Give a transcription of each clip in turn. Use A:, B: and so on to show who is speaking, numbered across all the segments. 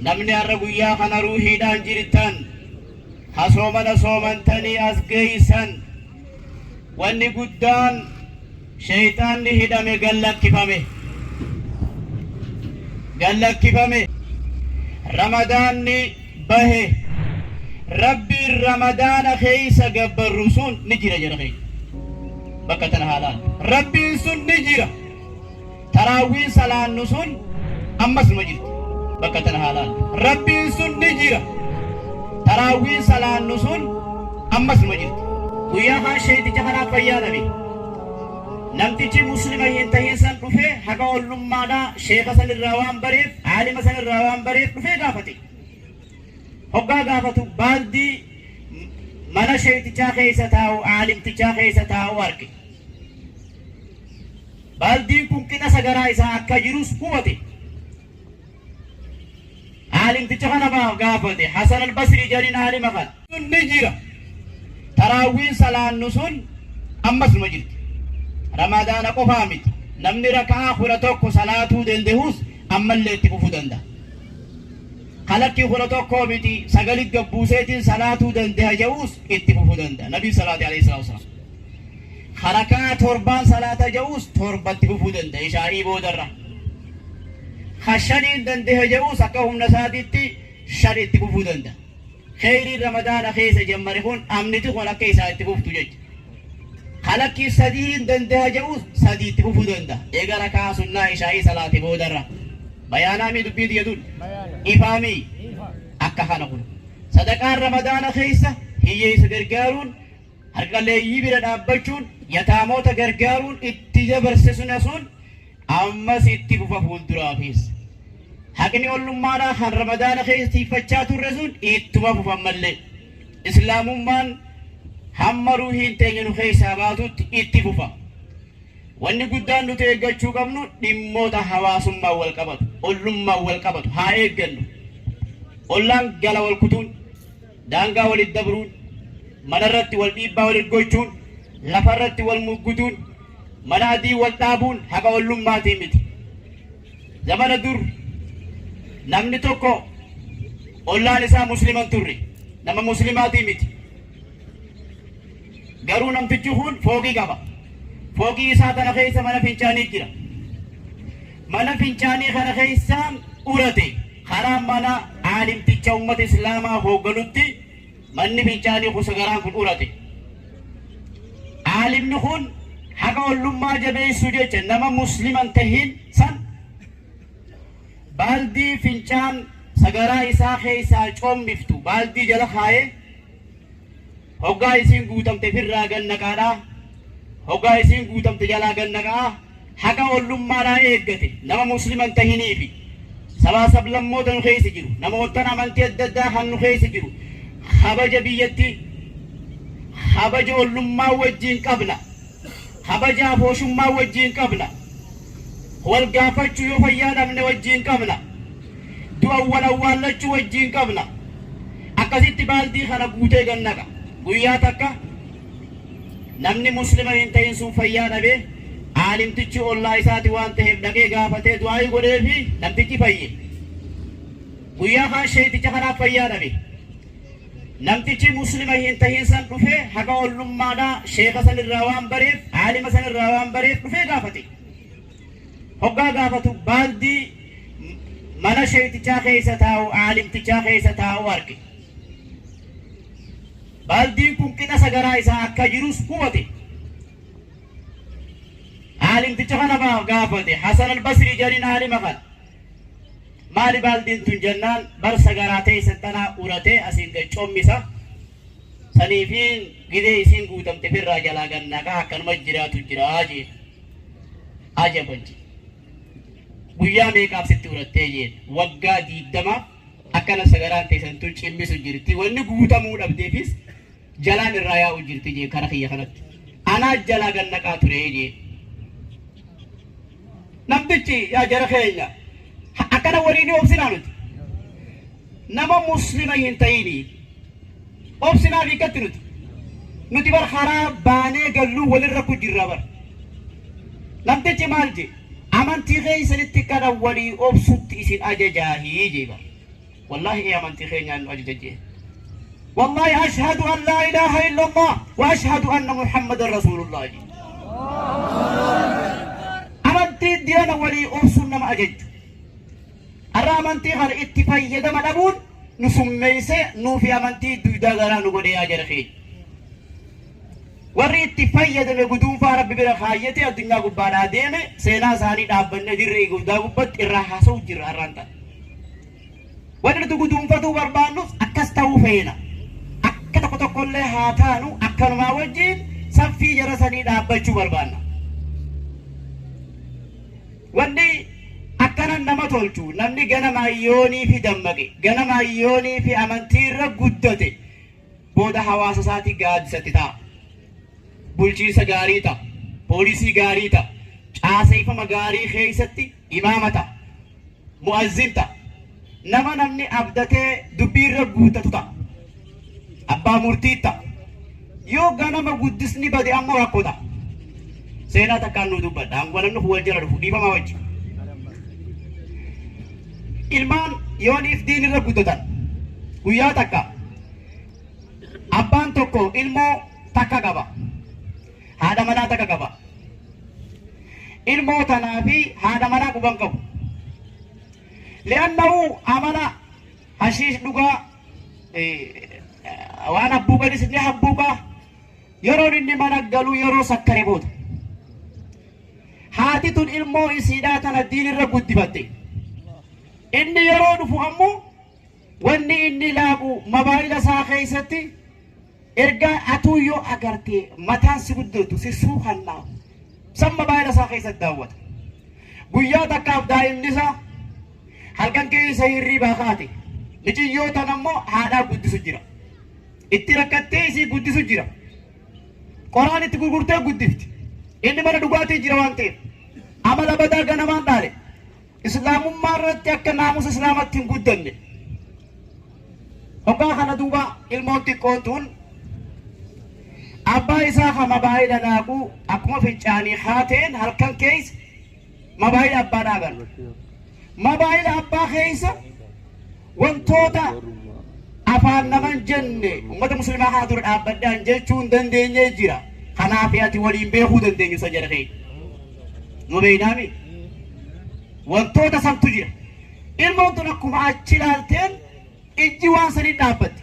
A: Namni har'a guyyaa kana ruuhiidhaan jirtan, ha soomana soomantanii as geeysan, wanni guddaan sheyxaanni hidhame gad lakkifame. Gad lakkifame. Ramadaanni bahe. Rabbiin Ramadaana keeysa gabbarru sun ni jira jara keenya. Bakka tana haa laallu. Rabbiin sun ni jira. Taraawwiin salaannu sun ammas numa jirti. Bakka tana haa laallu. Rabbiin sun ni jira. Taraawwiin salaannu sun ammas numa jirti. Guyyaa kaan sheeyticha kanaaf fayyaa dhabe. Namtichi Muslima hin tahin san dhufee haqa ollummaadhaa sheeka san irraa waan bareef, aalima san irraa waan bareef dhufee gaafate. Hoggaa gaafatu baaldii mana sheeytichaa keessa taa'u, aalimtichaa keessa taa'u arge. Baaldiin kun qixa sagaraa isaa akka jirus hubate. Aalimticha kana maaf gaafate? Hasan al-Basrii jedhin aalima kana. Sun ni jira. Taraawwiin salaannu sun ammas numa jirti. Ramadaana qofaa miti. Namni raka'aa kudha tokko salaatuu danda'us ammallee itti fufuu danda'a. Kalakkii kudha tokkoo miti sagalit gabbuuseetiin salaatuu danda'a jedhus itti fufuu danda'a. Nabii salaate alayhi salaatu wasalaam. Ka raka'aa torbaan salaata je'uus torba itti fufuu dandahe ishaa'ii boodarra. Ka shaniin dandahe je'uus akka humna isaatitti shan itti fufuu dandaha. Kheyriin Ramadaana keessa jammare kun amniti kun akka isaa itti fuftu jecha. Ka lakkii sadihiin dandaha je'uus sadii itti fufuu dandaha. Eega raka'aa sunnaa ishaa'ii salaate boodarra. Bayaanaamii dubbiin tiyya tun? Ifaamii? Akka kana kun. Sadaqaan Ramadaana keessa hiyyeessa gargaaruun Harqaleeyyii bira dhaabbachuun yataamoota gargaaruun itti jabarse sun hasuun ammas itti fufa fuulduraafis. Haqni ollummaadhaa kan ramadaana keessa tiiffachaa turre sun ittuma fufa ammallee. Islaamummaan hamma ruuhiin teenya nu keessaa baatutti itti fufa. Wanni guddaan nuti eeggachuu qabnu dhimmoota hawaasummaan wal qabatu, ollummaan wal qabatu haa eeggannu. Ollaan gala wal kutuun Daangaa walitti dabruun, manarratti wal dhiibbaa walitti gochuun, lafarratti wal muggutuun, mana adii wal dhaabuun haqa ollummaatii miti. Zamana dur namni tokko ollaan isaa muslima hin turre. Nama muslimaatii miti. Garuu namtichi kun fooqii qaba. Fooqii isaa tana keessa mana fincaanii jira. Mana fincaanii kana keessa urate. Karaa mana aalimticha ummata Islaamaa hoogganutti manni fincaanii kun sagaraan kun urate. Aalimni kun haqa ollummaa jabeessuu jecha nama musliman tahin san baaldii fincaan sagaraa isaa keessaa coommiftu baaldii jala kaa'ee Hoggaa isiin guutamte firraa gad naqaadhaa, hoggaa isiin guutamte jalaa gad naqa'aa, haqa ollummaadhaa eeggate nama Muslima hin tahinii fi sabaa sablammoota nu keessa jiru, namoottan amantii adda addaa kan nu keessa jiru, kabaja biyyatti, kabaja ollummaa wajjiin qabna. Kabaja Abooshummaa wajjiin qabna. Wal gaafachuu yoo fayyaa dhabne wajjiin qabna. Du'an wal awwaallachuu wajjiin qabna. Akkasitti baaldii kana guutee gad naqa. Guyyaa takka namni Muslima hin tahin sun fayyaa dhabe, aalimtichi ollaa isaati waan taheef dhaqee gaafatee du'aa'ii godheefii namtichi fayye. Guyyaa kaan sheeyticha kanaaf fayyaa dhabe. Namtichi Muslima hin tahin san dhufee haqa ollummaadhaa sheekha san irraa waan bareef, aalima san irraa waan bareef dhufee gaafate. Hoggaa gaafatu baaldii mana sheeytichaa keessa taa'u, aalimtichaa keessa taa'u arge. Baaldiin kun qixa sagaraa isaa akka jirus hubate. Aalimticha kana gaafate Hasan al-Basrii jedhaniin aalima kana. Maali baaldiin tun jennaan bar sagaraa teessan tanaa uratee asiin gad commisa. Saniifiin gidee isiin guutamte firraa jalaa gad naqaa akkanuma jiraatu jiraa jeen. Aja konje. Guyyaa meeqaaf sitti urattee jeen. Waggaa diigdamaaf Akka nafsa garaan teessan tun cimmisu jirti. Wanni guutamuu dhabdeefis jalaan irraa yaa'u jirti jee kara kiyya kanatti. Anaa jalaa gad naqaa ture jee. Namtichi yaa jara keenya ha- akkana walii ni obsinaa nuti. Nama muslima hin ta'ini. Obsinaa fi akkatti nuti. Nuti bar karaa baanee galluu walirra ku jirra bar. Namtichi maal jee? Amantii keessanitti kana walii obsutti isin ajajaahi jee bar. Wallaahi ee amantii keenyaan nu ajaja jee. Wallaahi ashhadu an laa ilaaha illallah wa ashhadu anna Muhammadan rasuulullah jee. Amantii diina walii obsuun nama ajajju. Har'a amantii kana itti fayyadama dhabuun nu summeessee nuufi amantii duydaa garaa nu godhee yaa jara keenya. Warri itti fayyadame guduunfaa Rabbi bira kaayyatee addunyaa gubbaadhaa deeme seenaa isaanii dhaabbanne dirree guddaa gubbatti irraa haasa'u jirra har'aan ta'a. Wanti nuti guduunfatuu barbaannus akkas ta'uu feena. Akka tokko tokkollee haa taanu akkanumaa wajjin saffii jara sanii dhaabbachuu barbaanna. Wanni akkana nama tolchu namni ganama ayyoonii fi dammaqe ganama ayyoonii fi amantii irra guddate booda hawaasa isaatii gaaddisatti ta'a. Bulchiinsa gaarii ta'a. Poolisii gaarii ta'a. Caaseeffama gaarii keessatti imaama ta'a. Mu'azzin ta'a. Nama namni abdatee dubbii irra guuttatu ta'a. Abbaa murtii ta'a. Yoo ganama guddisni bade ammoo rakkoo ta'a. Seenaa takkaan nuu dubbadha. Angwalannu wal jala dhufu dhiifamaa wajji. Ilmaan yooniif diin irra guddatan guyyaa takka Abbaan tokko ilmoo takka qaba. Haadha manaa takka qaba. Ilmoo tanaa fi haadha manaa quban qabu. Li'annahu amala hashiish dhugaa waan habbuuqanis ni habbuuqa. Yeroon inni mana galu yeroo sakkare booda. Haati tun ilmoo isiidhaa tana diinirra guddifatte. Inni yeroo dhufu ammoo Wanni inni laagu mabaayila isaa keessatti ergaa atuu yoo agartee mataan si guddootu si suukannaa san mabaayila isaa keessatti daawwata. Guyyaa takkaaf daa'imni isaa halkan keessa hirriibaa kaate miciyyoo tan ammoo haadhaa guddisu jira. Itti rakkattee isii guddisu jira. Qoraan itti gurgurtee guddifti. Inni mana dhugaatii jira waan ta'eef. Amala badaa ganamaan dhaale. Islaamummaa irratti akka naamusa Islaamatti hin guddanne. Hoggaa kana duuba ilmoon xiqqoon tun abbaa isaa ka mabaayii dhadhaabu akkuma fincaanii haateen halkan keessa mabaayii abbaa dhaagan. Mabaayii abbaa keessa Wantoota afaan naman jenne ummata muslimaa kana dura dhaabbadhaan jechuun dandeenyee jira. Kanaaf ati waliin beekuu dandeenyu san jedha keenya. Nu beeynaami. Wantoota santu jira. Ilmoon tun akkuma achi ilaalteen ijji waan sanii dhaabbatti.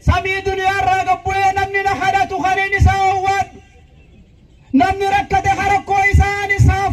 A: Samii duniyaarraa gad bu'ee namni na kadhatu kan hin isa owwaadhu. Namni rakkate ka rakkoo isaa an isaaf.